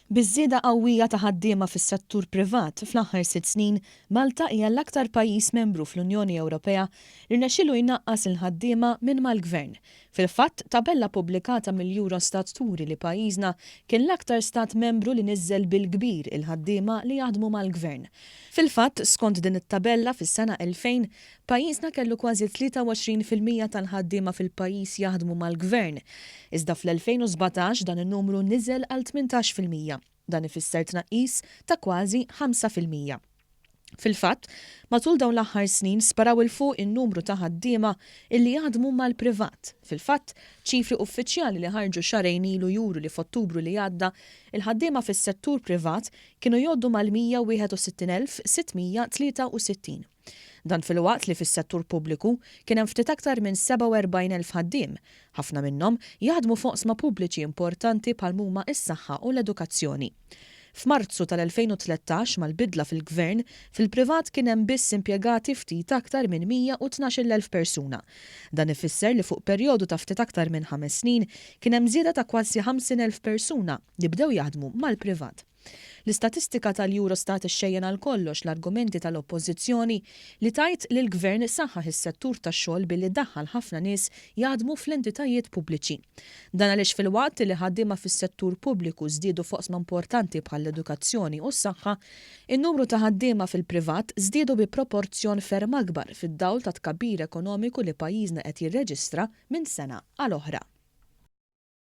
Biż-żieda qawwija ta' ħaddiema fis-settur privat fl-aħħar sitt snin, Malta hija l-aktar pajjiż membru fl-Unjoni Ewropea li rnexxielu jnaqqas il-ħaddiema minn mal-Gvern. Fil-fatt, tabella pubblikata mill-Eurostat turi li pajjiżna kien l-aktar Stat Membru li niżżel bil-kbir il-ħaddiema li jaħdmu mal-Gvern. Fil-fatt, skont din it-tabella, fis-sena 2000, Pajjiżna kellu kważi 23 fil-mija tal-ħaddiema fil-pajjiż jaħdmu mal-Gvern. Iżda fl-2017 dan in-numru niżel għal tmintax fil-mija. Dan ifisser tnaqqis ta' kważi ħamsa fil-mija. Fil-fatt, matul dawn l-aħħar snin sparaw 'il fuq in-numru ta' ħaddiema illi jaħdmu mal-privat. Fil-fatt, ċifri uffiċjali li ħarġu xahrejn ilu juru li f'Ottubru li għadda, il-ħaddiema fis-settur privat kienu jgħoddu mal-161,663. Dan filwaqt li fis-settur pubbliku kien hemm ftit aktar minn 47 elf ħaddiem, ħafna minnhom jaħdmu f'oqsma pubbliċi importanti bħal m'huma s-saħħa u l-edukazzjoni. F'Marzu tal-2013, mal-bidla fil-Gvern, fil-privat kien hemm biss impjegati ftit aktar minn 112-il elf persuna. Dan ifisser li fuq perjodu ta' ftit aktar minn ħames snin kien hemm żieda ta' kważi 50 elf persuna li bdew jaħdmu mal-privat. L-istatistika tal-Eurostat ixxejjen għal kollox l-argumenti tal-Oppożizzjoni li tgħid li l-Gvern saħħaħ is-settur tax-xogħol billi daħħal ħafna nies jaħdmu fl-entitajiet pubbliċi. Dan għaliex filwaqt li ħaddiema fis-settur pubbliku żdiedu f'oqsma importanti bħall-edukazzjoni u s-saħħa, in-numru ta' ħaddiema fil-privat żdiedu bi proporzjon ferm akbar fid-dawl tat-tkabbir ekonomiku li pajjiżna qed jirreġistra minn sena għal oħra.